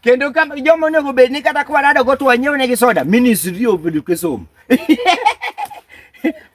kendo ka joma onego bed ni kata kwarado go to wanyiew ne gi soda ministry of education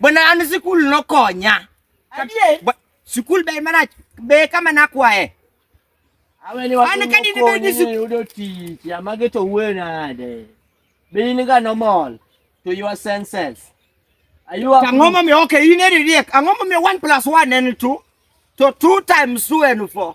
bwana an sikul nokonya sikul ber marach be kama nakwaye an kadi ne bed ni yudo tich amage to wuoyo nade be in ga normal to your senses ang'o momiyo ok in eri riek ang'o momiyo one plus one en two to two times two en four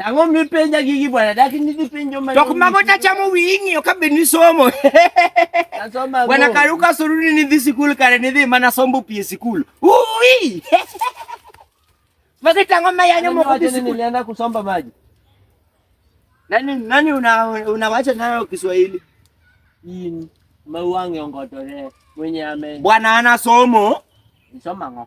Ang'o mipenja gigi bwana? Dak nidhi penjo ma. Tok mago tachamo wiyi ng'iyo ka be nisomo. Nasoma. Bwana Karuka suruni nidhi sikul kare nidhi mana sombo pi e sikul. Ui! Magi tang'o ma yanyo moko dhi sikul. Nilienda kusomba maji. Nani nani una unawacha nayo Kiswahili? Yin mauange ongotore mwenye ame. Bwana ana somo. Nisoma ng'o?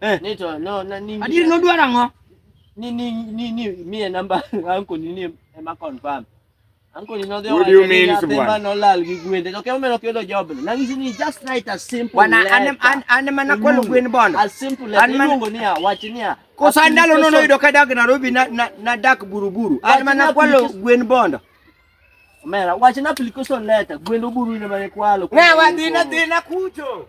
Eh. Ni to no na ni. Adier no dwara ngo. Ni ni ni ni mi e number anko ni ni ema confirm. Anko ni no de What do you mean bwana? No lal gi gwende. To kemo mero kelo job. Na ngi ni just write a simple. Bwana anem an an mana kwelo gwen bono. A simple letter. An mango ni a wach ni a. Ko sandalo no no yudo kadak Nairobi na na dak buruburu. An mana kwelo gwen bondo. Omera, wache na application letter, gwendo buru ine mane kwalo. Na wadina dina kucho.